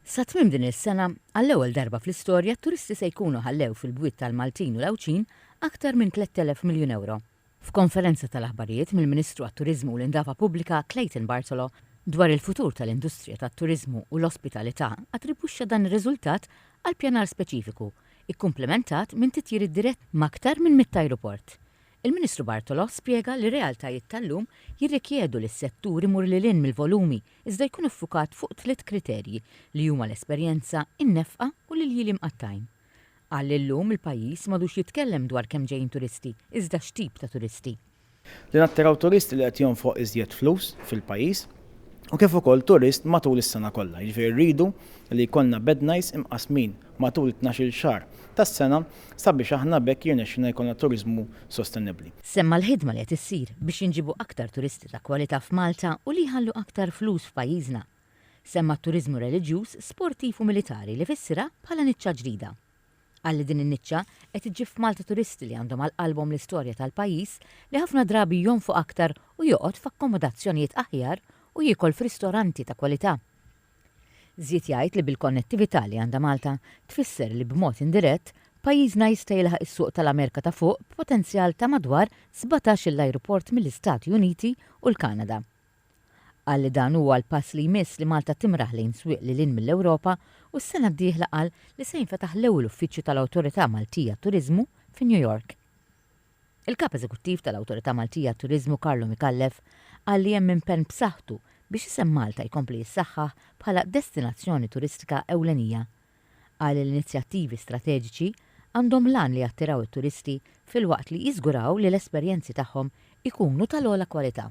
Sa tmiem din is-sena, għall-ewwel darba fl-istorja t-turisti se jkunu ħallew fil-bwiet tal-Maltin u l-Għawdxin aktar minn 3,000 miljun ewro. F'konferenza tal-aħbarijiet mill-Ministru għat-Turiżmu u l-Indafa Pubblika Clayton Bartolo dwar il-futur tal-industrija tat-turiżmu u l-ospitalità attribwixxa dan ir-riżultat għal pjanar speċifiku, ikkumplementat minn titjiriet diretti m'aktar minn mitt ajruport. Il-Ministru Bartolo spjega li r-realtajiet tal-lum jirrikjedu li s-settur imur lil hinn mill-volumi iżda jkun iffukat fuq tliet kriterji li huma l-esperjenza, in-nefqa u l-iljieli mqattgħin. Qal li llum il-pajjiż m'għadux jitkellem dwar kemm ġejjin turisti iżda x'tip ta' turisti. Li nattiraw turist li qed jonfoq iżjed flus fil-pajjiż u kif ukoll turist matul is-sena kollha, jiġifieri rridu li jkollna bednajs imqassmin matul it-tnax-il xahar tas-sena sabiex aħna b'hekk jirnexxilna jkollna turiżmu sostenibbli. Semma l-ħidma li qed issir biex jinġiebu aktar turisti ta' kwalità f'Malta u li jħallu aktar flus f'pajjiżna. Semma t-turiżmu reliġjuż, sportiv u militari li fissirha bħala niċċa ġdida. Qal li din in-niċċa qed iġġib f'Malta turisti li għandhom għal qalbhom l-istorja tal-pajjiż li ħafna drabi jonfoq aktar u joqgħod f'akkomodazzjonijiet aħjar u jiekol f'ristoranti ta' kwalità. Żied jgħid li bil-konnettività li għandha Malta, tfisser li b'mod indirett, pajjiżna jista' jilħaq is-suq tal-Amerika ta' Fuq b'potenzjal ta' madwar sbatax-il ajruport mill-Istati Uniti u l-Kanada. Qal li dan huwa l-pass li jmiss li Malta timraħ lejn swieq lil hinn mill-Ewropa u s-sena d-dieħla qal li se jinfetaħ l-ewwel uffiċċju tal-Awtorità Maltija Turiżmu fi New York. Il-Kap Eżekuttiv tal-Awtorità Maltija għat-Turiżmu Carlo Micallef qal li hemm impenn b'saħħtu biex isem Malta jkompli jissaħħaħ bħala destinazzjoni turistika ewlenija. Qal li l-inizjattivi strateġiċi għandhom l-għan li jattiraw it-turisti filwaqt li jiżguraw li l-esperjenzi tagħhom ikunu tal-ogħla kwalità.